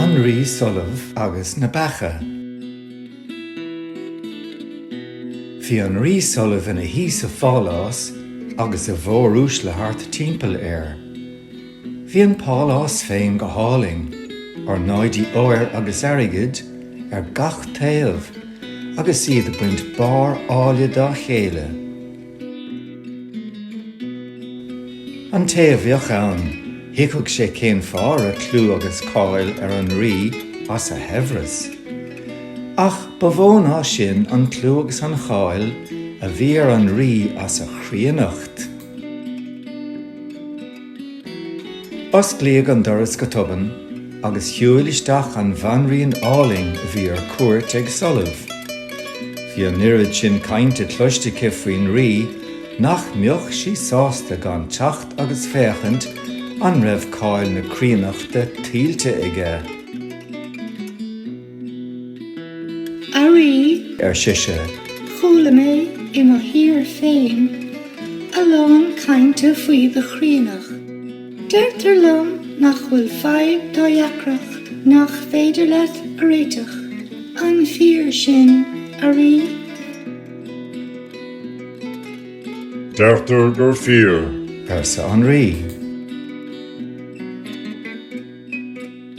An Rí Solamh agus na Beacha. Bhí an Rí Solamh ina shuí sa phálás agus a mhóruaisle thart timpeall air. Bhí an pálás féin go hálainn, ornáidí óir agus airgid ar gach taobh agus iad ag baint barr áille dá chéile. An té a bheadh ann, thuigfeadh sé cén fáth a raibh clú agus cáil ar an Rí as a shaibhreas. Ach ba mhó ná sin an clú agus an cháil a bhí ar an Rí as a chríonnacht. Osclaíodh an doras go tobann agus shiúil isteach an bhanríon álainn a bhí ar cuairt ag Solamh. Bhí an oiread sin cainte cloiste aici faoin rí nach mbeadh sí sásta gan teacht agus féachaint an raibh cáil na críonnachta tuillte aige. A Rí. ar sise. chuala mé i mo thír féin a lán cainte faoi do chríonnacht. Deirtear liom nach bhfuil fadhb dá dheacracht nach féidir leat a réiteach. An fíor sin, a Rí? Deirtear gur fíor. arsa an Rí.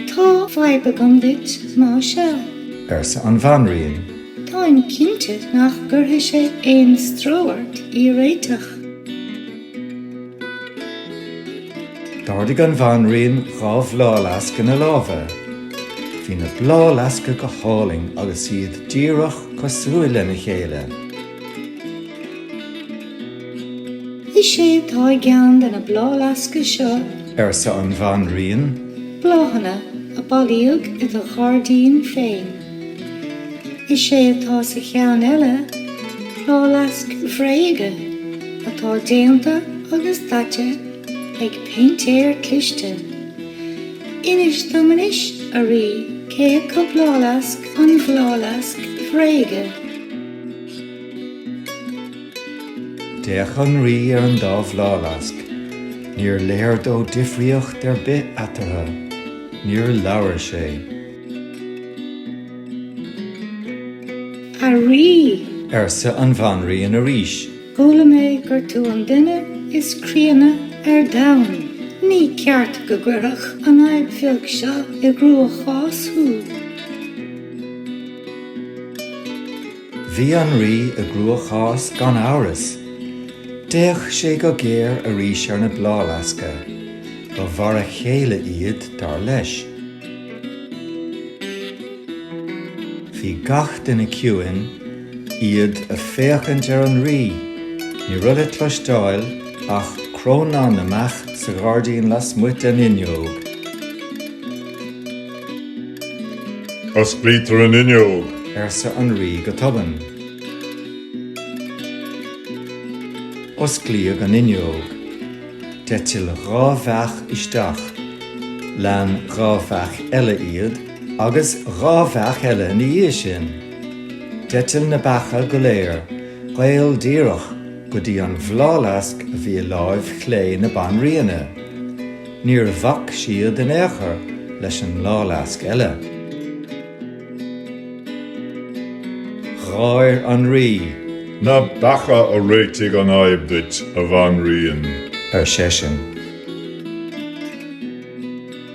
Tá fadhb agam duit, más ea. arsa an Bhanríon. Táim cinnte nach gcuirfidh sé aon stró ort í a réiteach. D'ardaigh an Bhanríon dhá bhláthfhleasc ina lámha. Bhí na bláthfhleasca go hálainn agus iad díreach cosúil lena chéile. Is é atá i gceann de na bláthfhleasca seo. arsa an Bhanríon. Bláthanna a bailíodh i do ghairdín féin. Is é atá sa cheann eile, bláthfhleasc bhréige atá déanta agus daite ag péintéir cliste. Inis dom anois, a Rí, cé acu bláthfhleasc an bhláthfhleasc bhréige. D'fhéach an Rí ar an dá bhláthfhleasc. Níor léir dó difríocht ar bith eatarthu. Níor labhair sé. A Rí! arsa an Bhanríon arís. Chuala mé gur tú an duine is críonna ar domhan. Ní ceart go gcuirfeadh an fhadhb bheag seo i gcruachás thú. Bhí an Rí i gcruachás gan amhras. D'fhéach sé go géar arís ar na bláthleasca. Ba mhar a chéile iad, dar leis. Bhí gach duine ciúin. iad ag féachaint ar an rí. Ní raibh le cloisteáil ach crónán na mbeach sa ghairdín lasmuigh den fhuinneog. Osclaítear an fhuinneog! arsa an rí go tobann. Osclaíodh an fhuinneog. D'eitil dhá bheach isteach. Lean dhá bheach eile iad, agus dhá bheach eile ina dhiaidh sin. D'eitil na beacha go léir caol díreach go dtí an bhláthfhleasc a bhí i láimh chlé na banríona. Níor bhac siad in aon chor leis an mbláthfhleasc eile. Gháir an rí. Na beacha a réitigh an fhadhb duit, a bhanríon! ar seisean.